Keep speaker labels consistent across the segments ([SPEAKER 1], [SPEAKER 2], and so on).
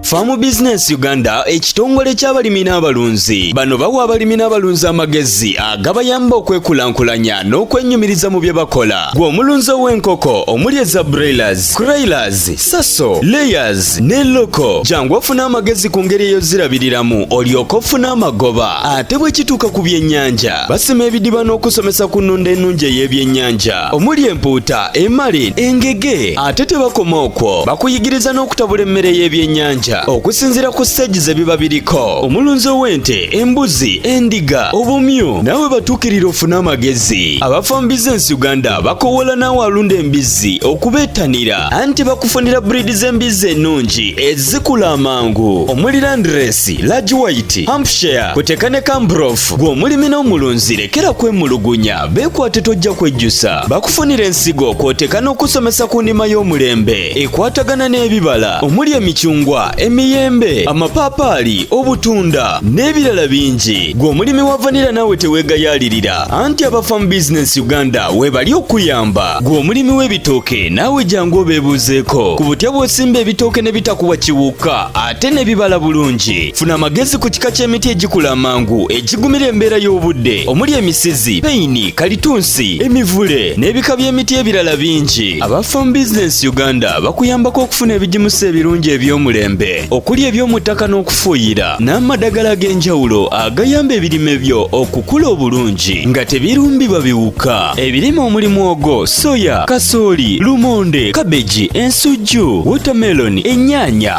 [SPEAKER 1] Farm Business Uganda ekitongole ky'abalimi n'abalunzi bano bawa abalimi n'abalunzi amagezi agabayamba okwekulaakulanya n'okwenyumiriza mu bye bakola gwe omulunzi ow'enkoko omuli eza broilers, croilers, saso, layers ne loko jangu ofuna amagezi ku ngeri eyozirabiriramu olyoka ofuna amagoba ate bwe kituuka ku byennyanja basima ebidiba n'okusomesa ku nnunda ennungi ey'ebyennyanja omuli empuuta emali engege ate tebakoma okwo bakuyigiriza n'okutabula emmere y'ebyennyanja okusinziira ku siteegi ze biba biriko omulunzi ow'ente embuzi endiga obumyu naawe batuukirira ofune amagezi abafa mu bizinensi uganda bakowoola naawe alunda embizzi okubeettanira anti bakufunira buriidi z'embizzi ennungi ezikula amangu omuli landiresi lagi wayiti hampshire kuteka ne kambrof gw'omulimi n'omulunzi lekera kwemulugunya Beekwate tojja kwejjusa bakufunira ensigo kw'oteeka n'okusomesa ku ndima y'omulembe ekwatagana n'ebibala omuli emicungwa emiyembe amapaapaali obutunda n'ebirala bingi gwe omulimi wa vanira naawe teweegayaalirira anti aba farm business uganda weebali okuyamba gwe omulimi w'ebitooke naawe jangu obeebuuzeeko ku butya bw'osimba ebitooke ne bitakuwa kiwuka ate ne bibala bulungi funa amagezi ku kika ky'emiti egikula amangu egigumira embeera y'obudde omuli emisizi peyini kalitunsi emivule n'ebika by'emiti ebirala bingi aba farm business uganda bakuyambako okufuna ebigimusa ebirungi eby'omulembe okuli eby'omu ttaka n'okufuuyira n'amadagala ag'enjawulo agayamba ebirime byo okukula obulungi nga tebirumbibwa biwuka ebirime omuli mwogo soya kasooli lumonde kabeji ensujju wotameloni ennyaanya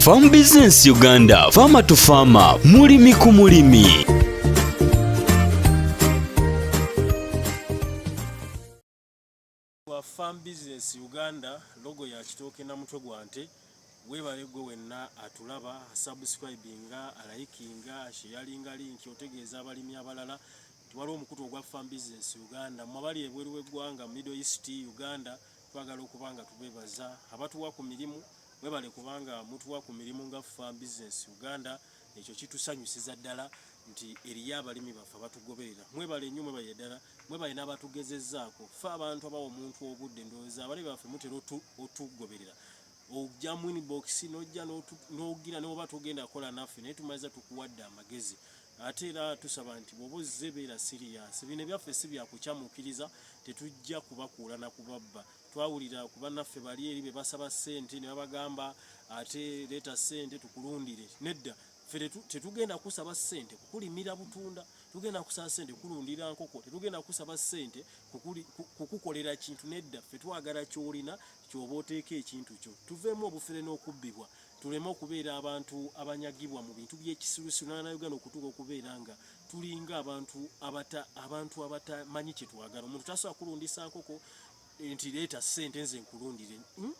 [SPEAKER 1] Farm Business Uganda, Farmer to Farmer, mulimi ku mulimi.
[SPEAKER 2] Farm Business Uganda, logo ya kitooke na mutwe gwa nte webale gwe wenna atulaba subscribinga alayikinga sheyalinga linki otegeeza abalimi abalala tiwaliwo omukutu ogwa farm business uganda mwabali ebweru w'eggwanga middle east uganda twagala okuba nga tubebaza abatuwa ku mirimu mwebale kubanga mutuwa ku mirimu nga farm business uganda ekyo kitusanyusiza ddala nti eriyo abalimi baffe abatugoberera mwebale nnyo mwebale ddala mwebale n'abatugezezaako fe abantu abawa omuntu obudde ndowooza abalimi baffe mutera otugoberera ojja mu inbox nojja nogira noba togenda kola naffe naye tumaliza tukuwadde amagezi ate era tusaba nti bwoba ozze beera siriyasi bino ebyaffe si byakukyamukiriza tetujja kubakuula na kubabba twawulira ku bannaffe bali eri be basaba ssente ne babagamba ate leeta ssente tukulundire nedda ffe tetugenda kusaba ssente kukulimira butunda tugenda kusaba ssente kulundira nkoko tetugenda kusaba ssente kukukolera kintu nedda ffe twagala kyolina kyoba oteeka ekintu kyo tuveemu obufere n'okubbibwa tuleme okubeera abantu abanyagibwa mu bintu by'ekisirusiru n'anauganda okutuuka okubeera nga tulinga abantu abata abantu abatamanyi kye twagala omuntu tasobola kulundisa nkoko eh, nti leeta ssente nze nkulundire hmm?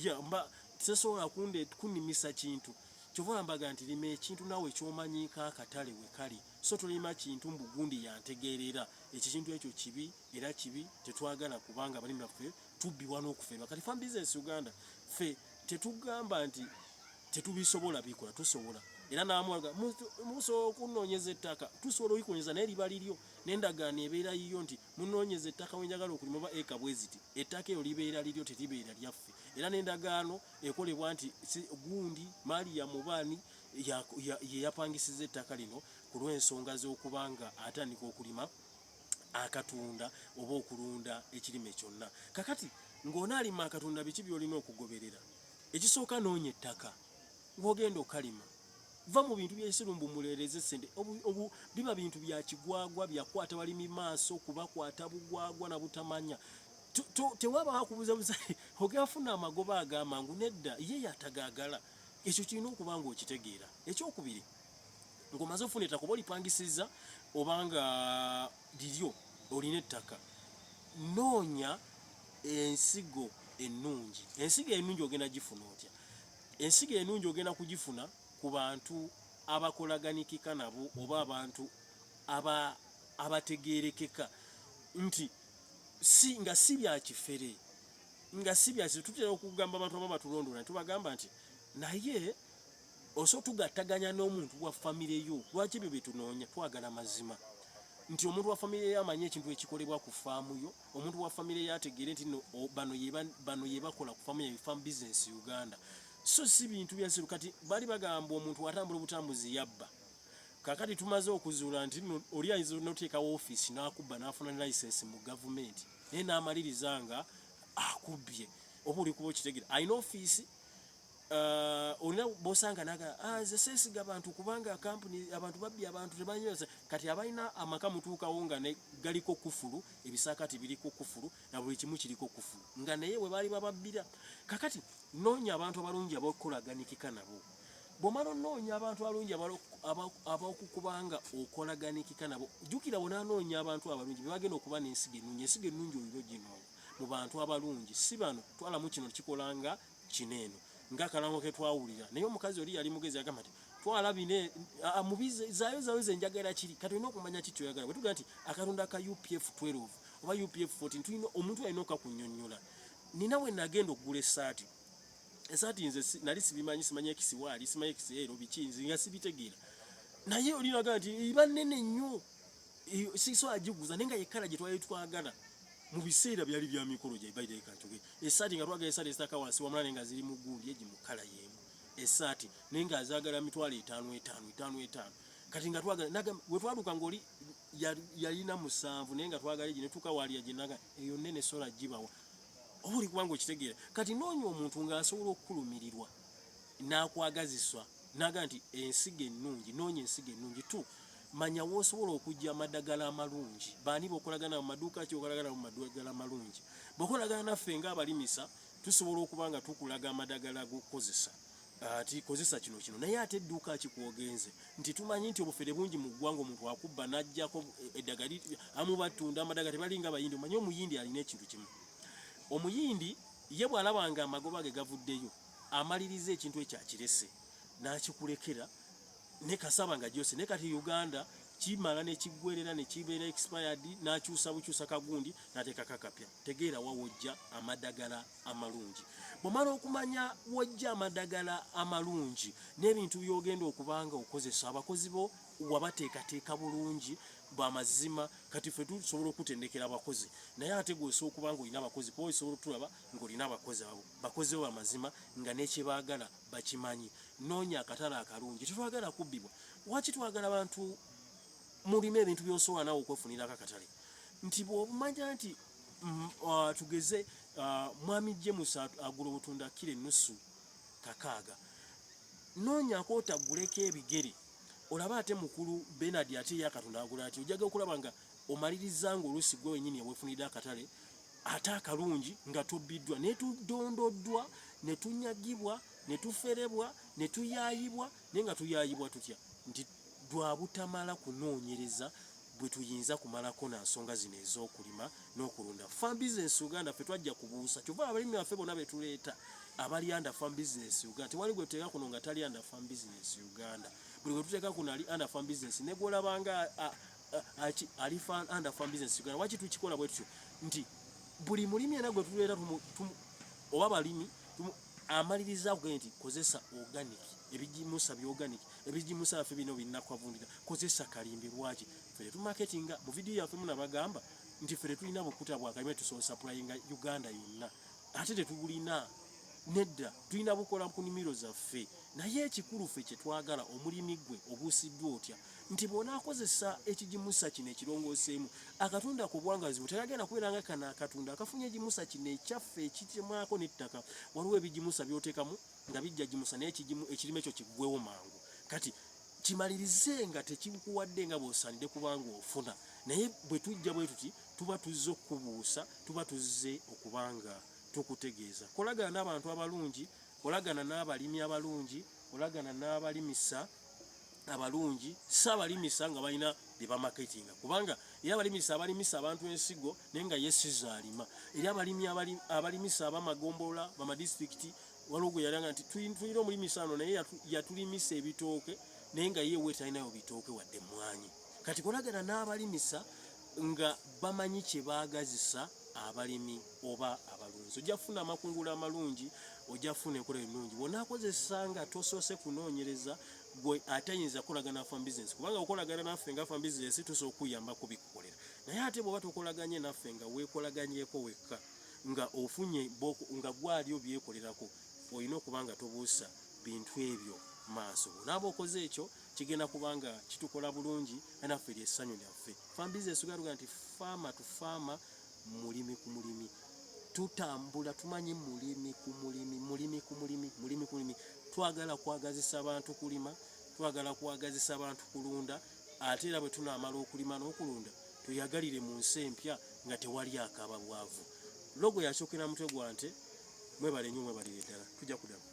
[SPEAKER 2] ya mba tesobola kunde kunnimisa kintu kyova mbaga nti lima ekintu nawe kyomanyiko akatale we kali so tolima kintu mbugundi yantegeerera ekikintu ekyo kibi era kibi tetwagala kubanga abalimi baffe tubbibwa n'okuferwa kati fam business uganda fe tetugamba nti tetubisobola bikola tusobola era namwaga musobola okunonyeza ettaka tusobola oikonyeza naye liba liryo nendagaano ebeera yiyo nti munonyeza ettaka wenjagala okulima oba eka bweziti ettaka eyo libeera liryo teribeera lyaffe era nendagaano ekolebwa nti gundi maali ya mubaani yeyapangisiza ettaka lino ku lw'ensonga z'okubanga atandika okulima akatunda oba okulunda ekirime kyonna kakati ng'ona alima akatunda biki byolina okugoberera ekisooka noonya ettaka ng'ogenda okalima va mu bintu byesirumbu mulereze sente obu biba bintu bya kigwagwa byakwata balimi maaso kubakwata bugwagwa na butamanya tewaba akubuza buza ogafuna amagoba agamangu nedda ye yatagagala ekyo kirina okuba nga okitegeera ekyokubiri ng'omaze ofuna ettaka oba olipangisizza oba nga liryo olina ettaka noonya ensigo ennungi ensigo ennungi ogenda gifuna otya ensigo ennungi ogenda kugifuna ku bantu abakolaganikika nabo oba abantu abategeerekeka nti si nga si bya kifere nga si bya tutera okugamba abantu abamu batulondoola ne tubagamba nti naye Oso tugattaganya n'omuntu wa famire yo lwaki ebyo byetunoonya twagala mazima nti omuntu wa famire yo amanyi ekintu ekikolebwa ku faamu yo omuntu wa famire yo ategeere nti no bano yeba bano yebakola ku faamu yayo farm business uganda so si bintu byansiru kati bali bagamba omuntu atambula obutambuzi yabba kakati tumaze okuzuula nti no oli ayinza noteekawo ofiisi n'akubba n'afuna ne license mu gavumenti naye n'amaliriza nga akubbye oba oli kuba okitegere alina ofiisi olina bosanga naga ah, nze sesiga bantu kubanga kampuni abantu babbi abantu tebanyoza kati abalina amaka mutuukawo nga galiko kufulu ebisakati biriko kufulu na buli kimu kiriko kufulu nga naye we baali bababbira kakati noonya abantu abalungi abakolaganikika nabo bwomala onoonya abantu abalungi abakukubanga okolaganikika nabo jjukira bonaanoonya abantu abalungi bebagenda okuba n'ensigo ennungi ensigo ennungi olina oginoonya mu bantu abalungi si bano twalamu kino kikolanga kino eno nga kalango ke twawulira naye omukazi oli yali mugezi agamba nti twala bine mubize zayo zayo zenjagala kiri kati olina okumanya ki kyoyagala bwe tugamba nti akalonda ka upf 12 oba upf 14 tulina omuntu alina okakunyonyola nina we nagenda okugula esaati esaati nze nali sibimanyi simanyi ekisiwaali simanyi ekisiero biki nze nga sibitegeera naye olinaga nti iba nene nnyo siso ajiguza nenga yekala gye twali twagala mu biseera byali bya mikolo gye bayita ekatuge esaati nga twagala esaati esitaka wansi wamula nenga ziri mu gundi egi mu kala yemu esaati nenga azagala mitwalo etaano etaano etaano etaano kati nga twagala naga we twaduka ngoli yalina musanvu nenga twagala egi netuka wali yaginaga eyo nene sola jibawa obuli kubanga okitegeera kati noonya omuntu nga asobola okukulumirirwa n'akwagaziswa n'agamba nti ensigo ennungi noonya ensigo ennungi tu manya w'osobola okujja amadagala amalungi baani bokolagana mu maduuka ki okolagana mu madagala amalungi bokolagana naffe nga abalimisa tusobola okuba nga tukulaga amadagala g'okukozesa ati kozesa kino kino naye ate edduuka kikwogenze nti tumanyi nti obufere bungi mu ggwanga omuntu akubba n'ajjako eddagala amu batunda amadagala tebalinga bayindi omanyi omuyindi alina ekintu kimu omuyindi ye bw'alaba nga amagoba ge gavuddeyo amaliriza ekintu ekyo akirese n'akikulekera ne kasaba nga gyose ne kati uganda kimala nekiggwerera nekibeera expired n'akyusa bukyusa kagundi n'ateeka kakapya tegeera wa wojja amadagala amalungi bwomala okumanya wojja amadagala amalungi n'ebintu byogenda okubanga okozesa abakozi bo wabateekateeka bulungi bwamazima kati fe tusobola okutendekera abakozi naye ate gweosobola okuba nga olina abakozi kuba osobola otulaba ng'olina abakozi abo bakozi bo bamazima nga nekyebaagala bakimanyi noonya akatale akalungi tetwagala kubbibwa waki twagala bantu mulime ebintu byosobola nawe okwefunirako akatale nti bwobumanya nti mm, uh, tugeze uh, mwami james agula obutunda kira enusu kakaaga noonyako otaguleko ebigere olaba ate mukulu benard ate yakatunda agula ati ojaga okulaba nga omaliriza nga oluusi gwe wenyini ewefunidde akatale ate akalungi nga tubbiddwa ne tudondoddwa ne tunyagibwa ne tuferebwa ne tuyaayibwa naye nga tuyaayibwa tutya nti lwa butamala kunoonyereza bwe tuyinza kumalako na nsonga zino ez'okulima n'okulunda farm business uganda ffe twajja kubuusa kyova abalimi baffe bona be tuleeta abali under farm business uganda tewali gwe tuteeka kuno nga tali under farm business uganda buli gwe tuteeka kuno ali under farm business ne gwolabanga Aki ali fan and fan business Uganda wachi tukikola bwetyo nti buli mulimi era gwe tulera tumu, tumu oba balimi tumu amaliriza gwe nti kozesa organic ebijimusa bi organic ebijimusa afi bino binakwa vundira kozesa kalimbi lwachi fere tu marketing mu video ya femu nabagamba nti fere tulina bukuta bwa kalime tu so supplying Uganda yonna ate tetubulina nedda tulina bukola ku nimiro zaffe naye ekikulu ffe kyetwagala omulimi gwe obuusiddwa otya nti bw'onaakozesa ekigimusa kino ekirongooseemu akatunda ku bwangazi bwe tayagenda kubeera nga kano akatunda akafunye egimusa kino ekyaffe ekitemwako n'ettaka waliwo ebigimusa by'oteekamu nga bijja gimusa naye ekirime kyo kiggwewo mangu kati kimalirize nga tekikuwadde nga bw'osaanidde kubanga ofuna naye bwe tujja bwe tuti tuba tuzze okukubuusa tuba tuzze okuba nga tukutegeeza kolagana n'abantu abalungi kolagana n'abalimi abalungi kolagana n'abalimisa abalungi si abalimisa nga balina bye bamaketinga kubanga era abalimisa abalimisa abantu ensigo naye nga ye sizo alima era abalimi abalimisa abamagombolola bamadisitulikiti waliwo gwe yalanga nti tulina omulimisa ano naye yatulimisa ebitooke naye nga ye wetalinayo bitooke wadde emmwanyi kati kolagana n'abalimisa nga bamanyi kye baagazisa abalimi oba abalunzi ojja kufuna amakungula amalungi ojja kufuna enkola ennungi bwonaakozesa nga tosoose kunoonyereza gwe atayinza kukolagana na farm business kubanga okolagana naffe nga farm business tusobola okukuyamba kubikukolera naye ate bw'oba tokolaganye naffe nga weekolaganyeko wekka nga ofunye nga gwali obyekolerako olina okuba nga tobuusa bintu ebyo maaso bwonaaba okoze ekyo kigenda kubanga kitukola bulungi naffe lye ssanyu lyaffe farm business galuga nti faama tu faama mulimi ku mulimi tutambula tumanyi mulimi ku mulimi mulimi ku mulimi mulimi ku mulimi twagala kwagazisa abantu kulima twagala kwagazisa abantu kulunda ate era bwe tunaamala okulima n'okulunda tuyagalire mu nsi empya nga tewali akaba bwavu logo yakyokera mutwe gwa nte mwebale nyo mwebalire ddala tujja kudamu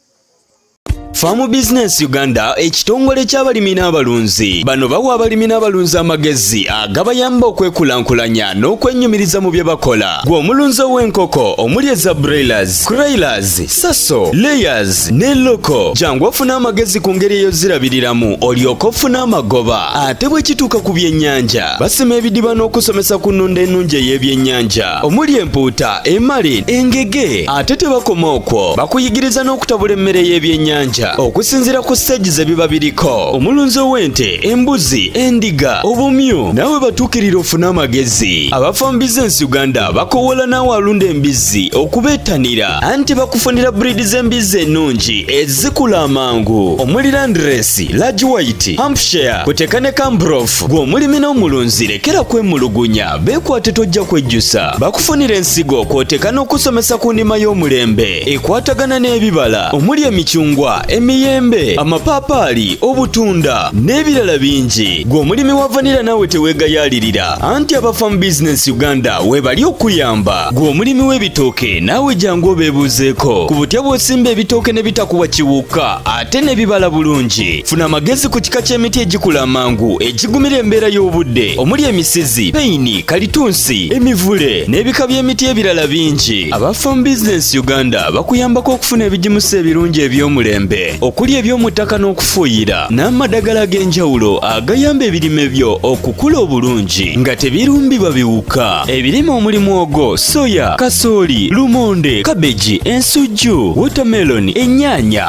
[SPEAKER 2] Farm
[SPEAKER 1] Business Uganda ekitongole ky'abalimi n'abalunzi bano bawa abalimi n'abalunzi amagezi agabayamba okwekulaakulanya n'okwenyumiriza mu bye bakola gwe omulunzi ow'enkoko omuli eza broilers, croilers, saso, layers ne loko jangu ofuna amagezi ku ngeri eyozirabiriramu olyoka ofuna amagoba ate bwe kituuka ku byennyanja basima ebidiba n'okusomesa ku nnunda ennungi ey'ebyennyanja omuli empuuta emali engege ate tebakoma okwo bakuyigiriza n'okutabula emmere y'ebyennyanja okusinziira ku siteegi ze biba biriko omulunzi ow'ente embuzi endiga obumyu nawe batuukirira ofune amagezi abafambiza ensi uganda bakowoola naawe alunda embizzi okubeettanira anti bakufunira buriidi z'embizzi ennungi ezikula amangu omuli landresi large white hampshire kuteeka ne kambrof gw'omulimi n'omulunzi lekera kwemulugunya Beekwate tojja kwejjusa bakufunira ensigo kw'oteeka n'okusomesa ku ndima y'omulembe ekwatagana n'ebibala omuli emicungwa emiyembe amapaapaali obutunda n'ebirala bingi gwe omulimi wa vanira naawe teweegayaalirira anti aba farm business uganda weebali okuyamba gwe omulimi w'ebitooke naawe jangu obeebuuzeeko ku butya bw'osimba ebitooke ne bitakuwa kiwuka ate n'ebibala bulungi. Funa amagezi ku kika ky'emiti egikula amangu egigumira embeera y'obudde omuli emisizi, peyini, kalitunsi, emivule n'ebika by'emiti ebirala bingi. Aba Farm Business Uganda bakuyambako okufuna ebigimusa ebirungi eby'omulembe okuli eby'omu ttaka n'okufuuyira n'amadagala ag'enjawulo agayamba ebirime byo okukula obulungi nga tebirumbibwa biwuka. Ebirime omuli mwogo, soya, kasooli, lumonde, kabeji, ensujju, watermelon, ennyaanya,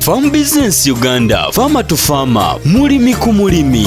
[SPEAKER 1] Farm Business Uganda, Farmer to Farmer, mulimi ku mulimi.